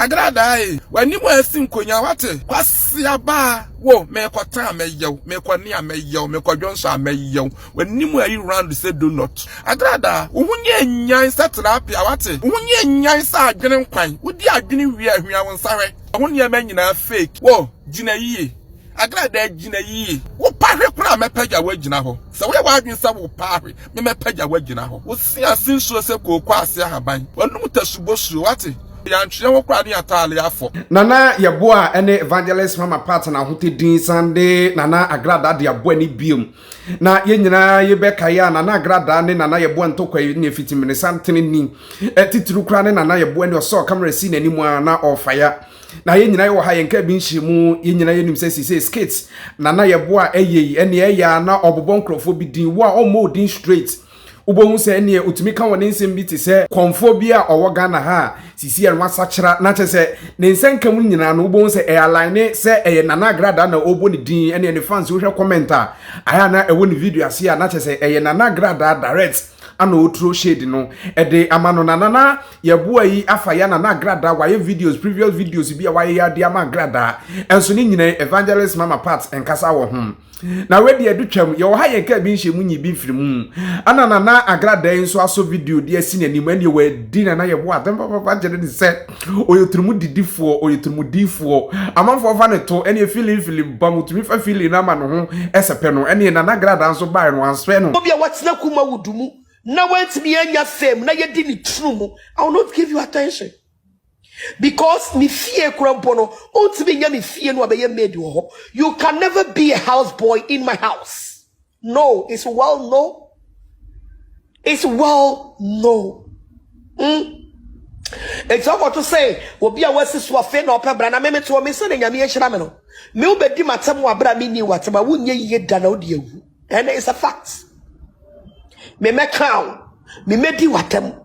Agradaa ee, w'anim asi nkonyaa wate. Kwasia baa wo, mekɔtɛn a mɛyɛw, mekɔne a mɛyɛw, mekɔdwo nso a mɛyɛw. W'anim ayi round sɛ donut. Agradaa, wo ho nyɛ nyan sɛ tilapia wate. Wo ho nyɛ nyan sɛ adwene nkwan. Wodi adwene wie a hwia wo nsa hwɛ. Ɛho nneɛma nyinaa fake. Wo, gyina yie. Agradaa agyina yie. Wopahwe koraa a mɛpagya woagyina hɔ. Sɛ woyɛ w'adwene sɛ wopahwe me mɛpagya woagyina hɔ. Wose ase nsuo sɛ kooko ase ahaban. W'anom ta subosuo wate. Yɛantwea wo koraa ne yɛataale afɔ. Nana Yeboah ne Evangelist Mama Pat na Ahote Din san de Nana Agradaa de aboa ni bio. Na yɛn nyinaa yi bɛkae a Nana Agradaa ne Nana Yeboah ntɔkwa yi ne Fitiminisa ntene ni. Titiriw koraa ne Nana Yeboah ni ɔsɔɔ camera sii n'anim a na ɔrefaya. Na yɛn nyinaa yɛwɔ ha yɛnka bi nhyɛmu yɛn nyinaa yɛnim sɛ sisei skit na na yɛboa a ɛyɛ yi ɛne ɛyɛ a na ɔbobɔ nkurɔfoɔ bi din wo a ɔmmɔ wo din straight wobɛhu sɛ ɛneɛ ɔtumi ka wɔne nsɛm bi te sɛ kɔmfoɔ bi a ɔwɔ Ghana ha a sisei ɛno asakyera na kyɛ sɛ ne nsɛnka mu nyinaa no wobɛhu sɛ ɛyɛ aline sɛ ɛyɛ Nana Agradaa na ɔbɔ ne din ɛneɛ ne fans wohwɛ comment a ayɛ a na ɛwɔ ne video aseɛ a na kyɛ sɛ ɛyɛ Nana Agradaa direct ana ɔturo shade no ɛde ama no na nana yɛboa yi afa yɛ nana agradaa wayɛ videos previous videos bi a wayɛ yɛ de ama agradaa ɛnso ne nyinaa evangelist mama part nkasa wɔ ho na wɛdi ɛde twam yɛwɔ ha yɛn kaa bi nhyɛ mu nyi bi mfiri mu ana nana agradaa yi nso aso video de asi n'anim ɛne wɔadi nana yɛboa adɛm papa gyere ne sɛ Ɔyɛ ɔtirimɔdidifoɔ, ɔyɛ ɔtirimɔdifoɔ. Amanfoɔ fa no to, ɛneɛ feeling feeling bam, ɔtumi fa feeling no ama ne ho sɛpɛ no. Ɛneɛ Nana Gradaa nso baeɛ no, wansɛpɛ no. Obi a watena Kumawood mu na wantumi annya fame na yɛdi ne tunu mu, I will not give you attention. Because ne fie koraa mpo no, wontumi nnya me fie no abɛyɛ maid wɔ hɔ. You can never be a house boy in my house. No, it's well no. It's well no. Mm. Eti ọkọ to sɛ obi a wasi so afei na ɔpɛ bra na meme to ɔme sɛ na nyame ahyira me no. Me wobɛdi m'atam wɔ abira me ni w'atam a wonyɛ yie da na wodi awu. And it's a fact. Me mɛka o. Me mɛdi w'atam.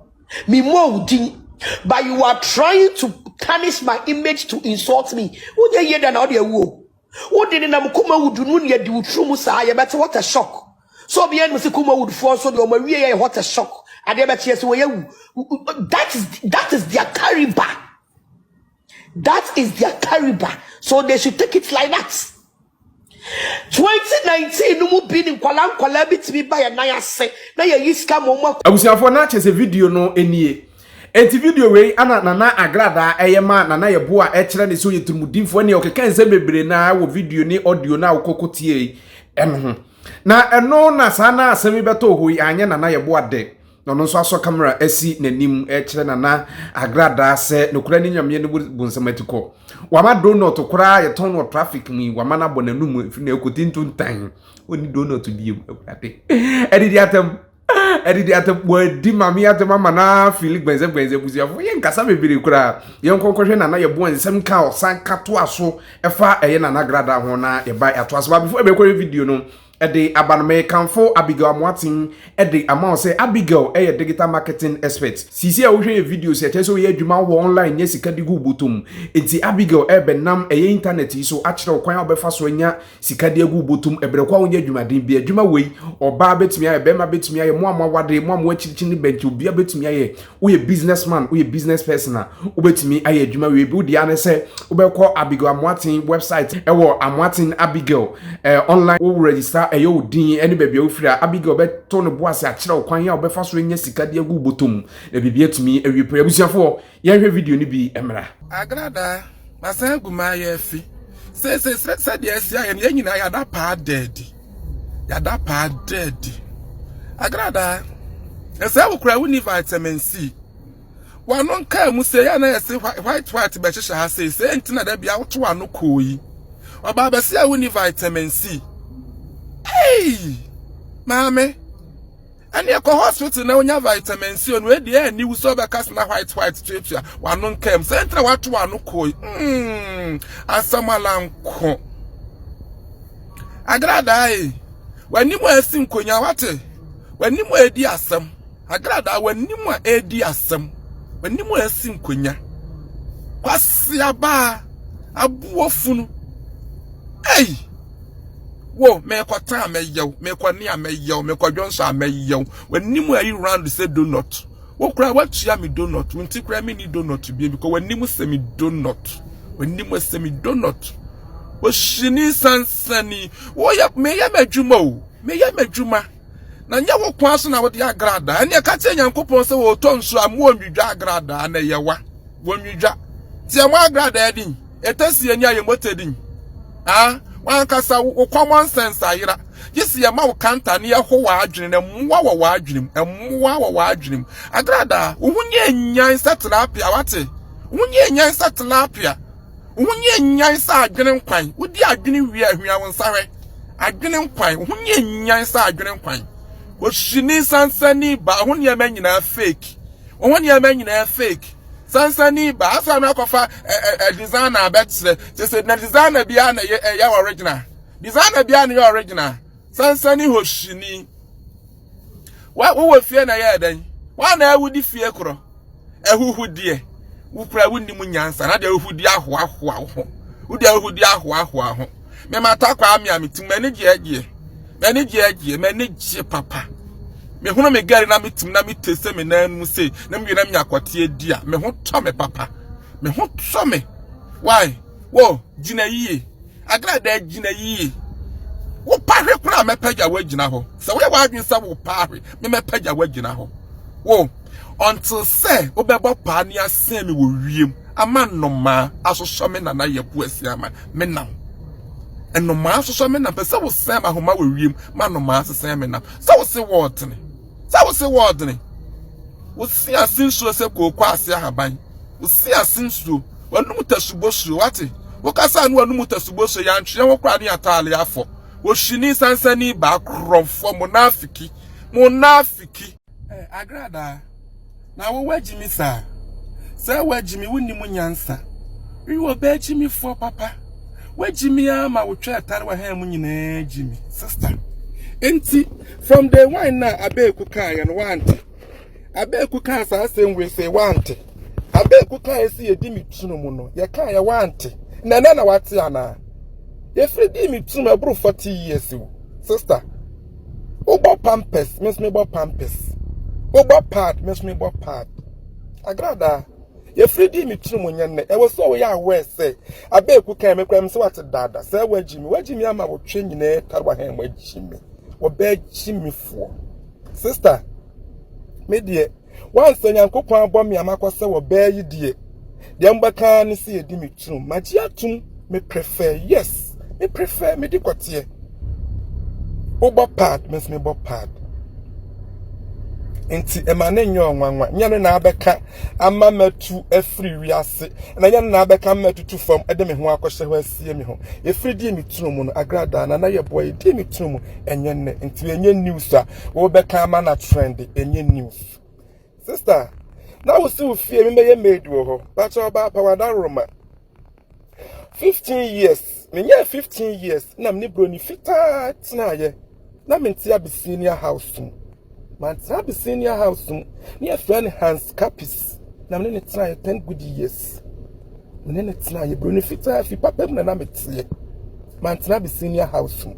Me mmɔ wo din. But you are trying to tarnish my image to insult me. Wonyɛ yie da na wodi awu o. Wode nenam Kumawood no nea di wo tiri mu saa yɛbɛte hɔtɛ shock so obiara nim sɛ Kumawood foɔ nso deɛ ɔma wie yɛ hɔtɛ shock adeɛ bɛkyeɛ sɛ wɔyɛ wu that is that is their kariba that is their kariba so they should take it like that 2019 no mu bi ne nkwalaa nkwalaa bi tumi ba yɛ nan ase na yɛyi sika ma ɔmo abusuafoɔ na kyɛ sɛ video no nie Enti video wei ana Nana Agradaa ɛyɛ maa Nana Yɛboa a ɛkyerɛ ne sɛ ɔyɛ tirimudinfoɔ ne ɔkeka nsɛm bebree no ara wɔ video ne audio no a wokɔ kɔ tiee ɛno ho. Na ɛno na saa na asɛm yi bɛtɔɔ hɔ yi anyɛ Nana Yɛboa dɛ. Na ɔno nso asɔ camera asi n'anim ɛkyerɛ Nana Agradaa sɛ nokorɛ ne Nyameɛ ne bonsam atikɔ. Wama donut koraa a yɛtɔn no wɔ traffic mu yi wama no abɔ n'anum ɛfiri na ɛkɔ tintontan. Ɔnni donut biom Awurade. Adidi atɛm. ɛde de ate wɔadi maame ate mama na fili gbɛnzɛgbɛnzɛ abusuafo yɛ nkasa bebree koraa yɛn nkɔnkɔhwɛ nana yɛ boa nsɛm ka ɔsan ka to aso ɛfa ɛyɛ nana grada ho na yɛba ato aso ba before ɛbɛkɔhwɛ video no ɛde aba no mɛ kanfo abigail amoaten ɛde ama ɔsɛ abigail ɛyɛ digital marketing expert sisi a wohwɛ yɛ video sɛ ɛkyɛ sɛ woyɛ adwuma wɔ online nyɛ sika di gu botom nti abigail ɛbɛnam ɛyɛ internet yi so akyerɛ wo kwan a wobɛfa so anya sika de agu wo bɔtɔm ɛbrɛ kwa wonyɛ adwumaden bi adwuma wei ɔbaa bɛtumi ayɛ bɛrima bɛtumi ayɛ mo a moawade mo a mo akyirikyiri ne bɛnti obia bɛtumi ayɛ woyɛ business man woyɛ business person a wobɛtumi ayɛ adwuma wei bi wodeɛ ne sɛ wobɛkɔ Abigail Amoaten website ɛwɔ Amoaten Abigail eh, online wo register ɛyɛ wo din ɛne baabi a wofiri a Abigail bɛto ne bo ase akyerɛ wo kwan a wobɛfa so anya sika de agu bɔtɔm na biribi atumi awie pɛ abusuafoɔ Yɛnhwɛ video no bi mmra. Agradaa, masan agu m'ayaafi. Seesei srɛ sɛdeɛ asi ayɛ no, yɛn nyinaa yɛada paa daadi. Yɛada paa daadi. Agradaa, ɛsɛ wo koraa wonni vitamin C. W'ano nkaa mu sei a na yɛse white white bɛhyehyɛ ha sei, sei nti na da bia woto w'ano koo yi. Ɔbaa bɛsi a wonni vitamin C. Hey! Maame! Ɛne ɛkɔ hospital na wonya vitamin C no ɛdi ɛni wo sɛ ɔbɛka sena white white tuatua wano nkam sɛ ntra wato wano koi mm asɛm alanko agradaa yi e. w'anim a asi nkonya wate w'anim a ɛdi asɛm agradaa w'anim a ɛdi asɛm w'anim a asi nkonya kwasiabaa abuo funu ei wo mekɔ tan mɛyɛ wo mekɔ ne a mɛyɛ wo mekɔ dwonso a mɛyɛ wo w'anim a ɛyi round sɛ donut wo kora woatua me donut wo nti kora me ni donut bie bi kɔ w'anim sɛ me donut w'anim sɛ me donut ohyini sansani woyɛ meyɛ m'adwuma o meyɛ m'adwuma na nyɛ wo kwan so na wode agradaa ɛne ɛka kyerɛ nyankopɔn sɛ wɔtɔ nsuo a moɔnwidwa agradaa na ɛyɛ wa wɔnwidwa nti ɛmɔ agradaa din ɛtɛsi ani a yɛmɔtɛ din a wankasa wo common sense ayera gye sɛ yɛma wo kanta ne yɛho w'adwene na mmoa wɔ w'adwene mu mmoa wɔ w'adwene mu agradaa wo ho nyɛ nyan sɛ tilapia wate wo ho nyɛ nyan sɛ tilapia Wo nyɛ nyan sɛ adwene nkwan. Wo di adwene wie a hwia wo nsa hwɛ. Adwene nkwan. Wo nyɛ nyan sɛ adwene nkwan. Ohyini sansani ba. Wo ho nneɛma nyinaa fake. Wo ho nneɛma nyinaa fake. Sansani ba. Afei ano akɔfa ɛ ɛ ɛ designer abɛkyerɛ. Kyerɛ sɛ na designer biara na ɛyɛ ɛyɛ original. Designer biara na ɛyɛ original. Sansani hohyini. wowɔ fie na ɛyɛ dɛn wɔn na wodi fie korɔ ahuhudeɛ wokura wo nim nyansa na deɛ wohudi ahoahoa wo ho wode ahohudi ahoahoa ho mema takwa ame a metim m'ani gyeɛgyeɛ m'ani gyeɛgyeɛ m'ani gye papa mehunu me gari na metim na mete sɛ me nan mu sei na mewie na menya kɔteɛ di a me ho tɔ me papa me ho tɔ me why wo gyina yie Agradaa agyina yie. Wo pahwe koraa mɛpagya woagyina hɔ. Sɛ woyɛ w'adwene sɛ wo pahwe me mɛpagya woagyina hɔ. Wo until sɛ wobɛbɔ paa ne asɛn me wɔ wiem ama nnomaa asosɔ me nana yɛ bo asi ama me nam. Nnomaa asosɔ me nam pɛ sɛ wosɛn ma ahoma wɔ wiem ma nnomaa asesɛn me nam. Sɛ wo se wɔɔtene. Sɛ wo se wɔɔdene, wo se ase nsuo sɛ kooko ase ahaban, wo se ase nsuo, w'anum tasubo suo, wate? Wo kasa a ne w'anum tasubo suo, yɛantweɛ ho koraa ne yɛataale afɔ. Wɔhyini sansani baa korɔmfoɔ, monafiki, monafiki. Ɛɛ, Agradaa, Na wo w'agyi me saa. Sɛ w'agyi me wonni mu nyansa. Wi wɔ bɛ agyi me foɔ papa. W'agyi me aa ma wo twɛ tare wɔ hɛn mu nyinaa agyi me sister. Nti from day one na Abeeku kaa yɛ no w'ante. Abeeku kaa saa asɛm wei sɛ w'ante. Abeeku kaa yɛ sɛ yɛdi me tunu mu no yɛ kaa yɛ w'ante. Na ɛnɛ na w'ate anaa. Yɛfiri dii me tunu mu ɛboro 40 years o sister. wobɔ pampers me nso mebɔ pampers wobɔ pad me nso mebɔ pad agradaa yɛfiri dii me tiri mu nyɛ nnɛ ɛwɔ sɛ ɔyɛ aware sɛ abɛɛku kan me kora me sɛ wate daada sɛ wagyi me wagyi me ama wotwe nyinaa tare wahɛn wagyi me wɔbɛagyi me foɔ sister me deɛ Wansa Nyankopɔn abɔ me ama kɔ sɛ wɔ bɛɛ yi deɛ. Deɛ mbɛka ne sɛ yɛdi me turum. Magye atum me prefer yes me prefer me di kɔteɛ. Wobɔ pad me nso me bɔ pad. Nti ɛma ne nyɛ ɔnwanwa nyɛ no na abɛka ama matu afiri wiase na nyɛ no na abɛka ama tutu fam ɛde me ho akɔhyɛ hɔ asie me ho. Efiri die me turum no agradaa na na yɛ boa yɛ die me turum ɛnyɛ nnɛ nti ɛnyɛ news a Wo bɛ kan ma na trend enye news. Sister, na wo si wo fie mi mɛyɛ maid wɔ hɔ. Pakyɛ ɔbaa pa wada roma. 15 years, me nyɛ 15 years na me ne broni fitaa tenaayɛ. Na me nte Abyssinia house mu. Man tena Abyssinia house mu. Ne yɛ friend Hans Capis. Na me ne ne tenaayɛ 10 good years. Me ne ne tenaayɛ broni fitaa fi papa mu na na me teɛ. Mantena me senior house mu.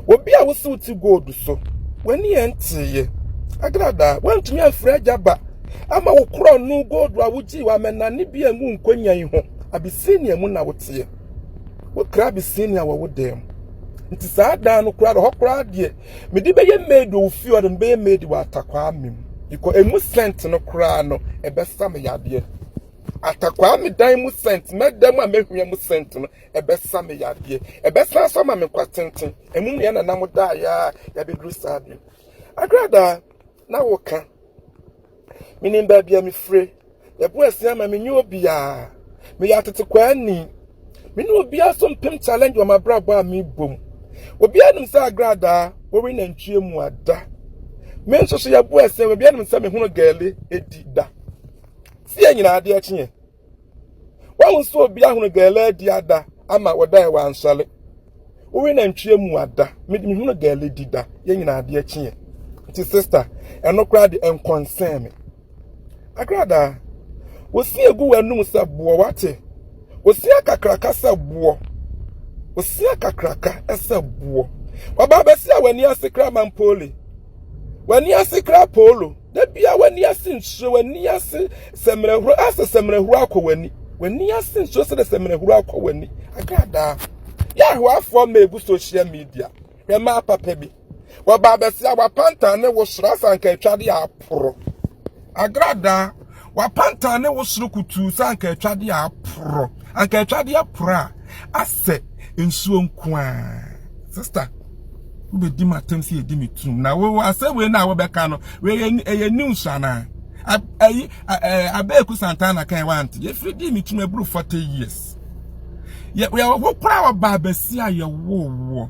Obi a wosiw ti gold so, w'ani yɛ nteeɛ. Agradaa, woantumi amfiri agya ba ama wo korɔno gold a wogyii w'amɛnane bi a ngu nkonyan yi ho. Abisinia mu na woteɛ. Wokra Abisinia wɔ wo dan mu. Nti saa dan no koraa, hɔ koraa deɛ, mede bɛyɛ maid wɔ wo fie ɔde me bɛyɛ maid wɔ atakwaa me mu. Because emu scent no koraa no, ɛbɛsa me yadeɛ. Atakwaa me dan mu scent, mɛda mu a mɛhwia mu scent no. ɛbɛsa me yadeɛ ɛbɛsan so ama me nkwa tenten ɛmu mmea na nam daeɛ a yɛabɛduru saa bi agradaa na woka menim baabi a mefire yɛbo asia ama menye obiaa meyɛ atetekwaa ni me ne obiaa so mpem challenge wɔ mabrabɔ a mebom obiaa nim sɛ agradaa wɔwe nantwie mu ada me nso so yɛbo asia obiaa nim sɛ mehunu gaale ɛdi da sɛ yɛ nyinaa adeɛ kyeɛ wɔn nso obi ahono gɛlɛ di ada ama wɔda yɛ wansɔre wowe nantwie mu ada mehunu gɛlɛ di da yɛ nyinaa adeɛ kyeɛ nti sista ɛno koraa de nkɔnsɛn me agradaa wosi egu w'anum sɛ boɔ wate wosi akakraka sɛ boɔ wosi akakraka sɛ boɔ waba abɛsi a w'ani ase kra mampoli w'ani ase kra polo Da biara w'ani ase nhyerɛ w'ani ase sɛmmerɛhoro asɛ sɛmmerɛhoro akɔ w'ani w'ani ase nhyerɛ sɛ dɛ sɛmmerɛhoro akɔ w'ani agradaa yɛahoafoɔ ma egu social media hwɛ maa papa bi wɔba abɛsi awapantan ne wo soro asanka atwa de aporo agradaa W'apantan ne wo soro kutuu sɛ anka atwade a aporɔ. Anka atwade aporɔ a asɛ nsuo nko ara. Sista, wobɛdi m'atam sɛ yɛdi me turom. Na wo asɛm wei no a wobɛka no, wei ɛyɛ news anaa? Ayi, Abeeku Santana kan wante. Yɛfiri di me turom aburu 40 years. Yɛwɔ hɔ koraa wɔ Baabasia yɛwoo woɔ.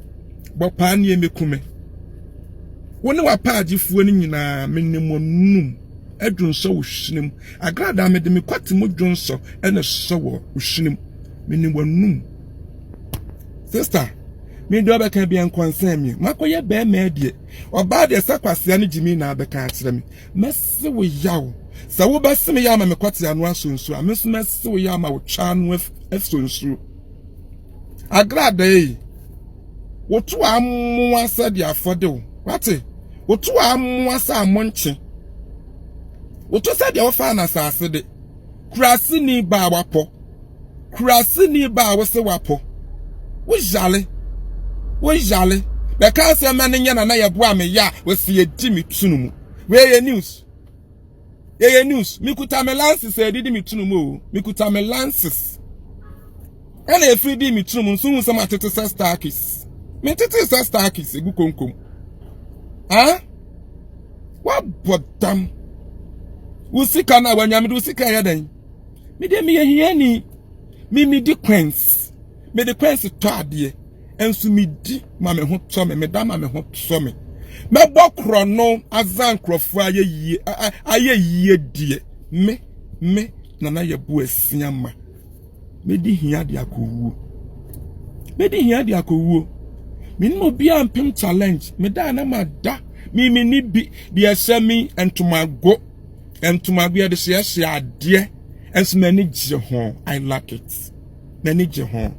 bɔpaa nie meku me wo ne w'apaagyefoɔ no nyinaa mene mo num adwonsɔ wo hwenem agradaa mede me kwate mo dwonsɔ ɛna sɔ wɔ wo hwenem mene w'anum sista mede ɔbɛka bia nkɔnsɛn me makɔyɛ bɛrima adie ɔbaa deɛ sɛ kwasea no gyimi na abɛka akyerɛ me mɛse wo yaw sɛ wobɛse me yɛ ama me kwate ano asonsuo a me nso mɛse wo yɛ ama wo twa ano asonsuo Agradaa yi, wotu amoa sɛ de afɔde o. Wate? Wotu amoa sɛ amonkye. Wotu sɛ deɛ wofa na asase de. Kurasini ba a wapɔ. Kurasini ba a wose wapɔ. Woyale. Woyale. Bɛka asɛm ma no nyɛ na na yɛboa me yɛ a wɔsi yɛdi me tunu mu. Wei yɛ news. yɛyɛ news mekuta me lances a ɛdidi me tunum o mekuta me lances ɛna efiri di me tunum nso hu sɛ ma tete sɛ starkis me tete sɛ starkis egu konkom ah wabɔ dam wo sika na wanyamede wo sika yɛ dɛn me deɛ meyɛ hiani me medi coins. mede kwansi tɔ adeɛ nso medi ma me ho tɔ me meda ma me ho tɔ me mɛbɔ korɔno aza nkurɔfoɔ ayɛ yie ayɛ yie deɛ me me nana yɛ bo asia ma medi hia de akɔwuo medi hia de akɔwuo menim obiara mpem challenge meda na mada mimi ni bi deɛ ɛhyɛ me ntomago ntomago yɛde hyehyɛ adeɛ nso m'ani gye ho i like it m'ani gye ho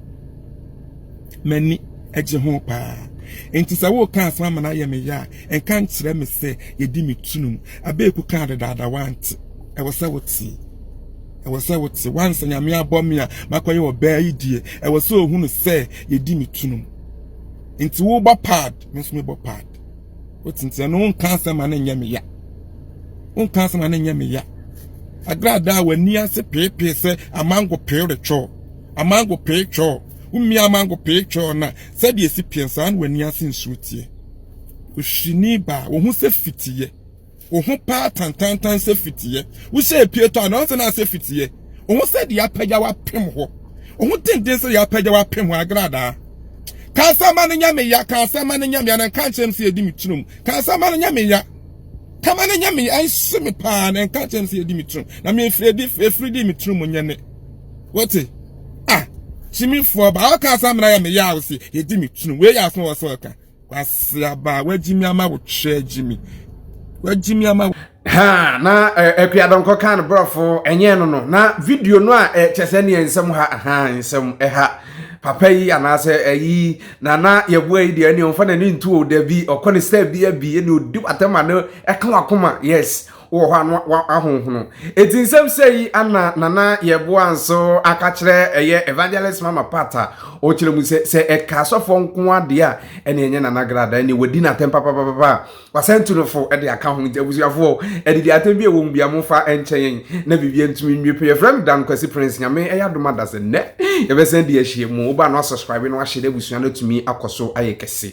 m'ani gye ho paa nti sɛ woka asɛm ama no ayɛ me yɛ a nka nkyerɛ me sɛ yɛdi me tunum abeeku kaa dedaada wante ɛwɔ sɛ wotie ɛwɔ sɛ wote wansa nyame abɔ me a makɔyɛ ɔbaa yi die ɛwɔ sɛ ohunu sɛ yɛdi me tunum nti wobɔ pad me nso mebɔ pad wotintia no wonka asɛm a ne nyɛ me ya wonka asɛm a ne nyɛ me ya agradaa w'ani ase peepee sɛ amango pee retwɔ amango pee twɔ womia amango pee twɔ na sɛdeɛ si pie saa na w'ani ase nsuo teɛ ohyini baa wɔn ho sɛ fitiiɛ wo ho paa tantantan sɛ fitiɛ wo hyɛ epie tɔ a na ɔnsɛ na asɛ fitiɛ wo ho sɛ deɛ apagya wapem hɔ wo ho denden sɛ deɛ apagya wapem hɔ agradaa kansama no nya meya kansama no nya meya na nka nkyɛm sɛ yɛdi me tirom kansama no nya meya kama no nya meya ɛnhye me paa na nka nkyɛm sɛ yɛdi me tirom na mefiri di efiri di me tirom nyɛ ne wote ah kyimifoɔ ba ɔka asɛm na yɛ meya wo se yɛdi me tirom wei yɛ asɛm wɔ sɛ ɔka Kwasi aba wagyimi ama wo kyerɛ gyimi wagyimi ama wo. ha na akuadɔnkɔ kan no borɔfo ɛnyɛ no no na video no a ɛkyɛ sɛ neɛ nsɛm ha ha nsɛm ɛha papa yi anaasɛ ɛyi na na yɛboa yi deɛ ɛne ɔmfa n'ani nto o dabi ɔkɔ ne step bi abi ɛne ɔdi watɛm a ne ɛka wakoma yes wɔ hɔ a na wahonhono. Eti nsɛm sɛ yi ana Nana Yeboah nso aka kyerɛ ɛyɛ Evangelist Mama Pat a ɔkyerɛ mu sɛ sɛ ɛka asɔfoɔ nko adeɛ a ɛne ɛnyɛ Nana Grada ɛne wadi n'atɛm papapapa a wasan tu no fo de aka ho nti abusuafoɔ adidi atɛm bi ɛwɔ mu bia mofa nkyɛ yɛn na biribi ntumi nwie pɛ yɛfrɛ me Dan Kwasi Prince nyame ɛyɛ adom ada sɛ nnɛ yɛbɛsan di ahyia mu woba no asubscribe no ahyɛ na abusua no atumi akɔ so ayɛ kɛse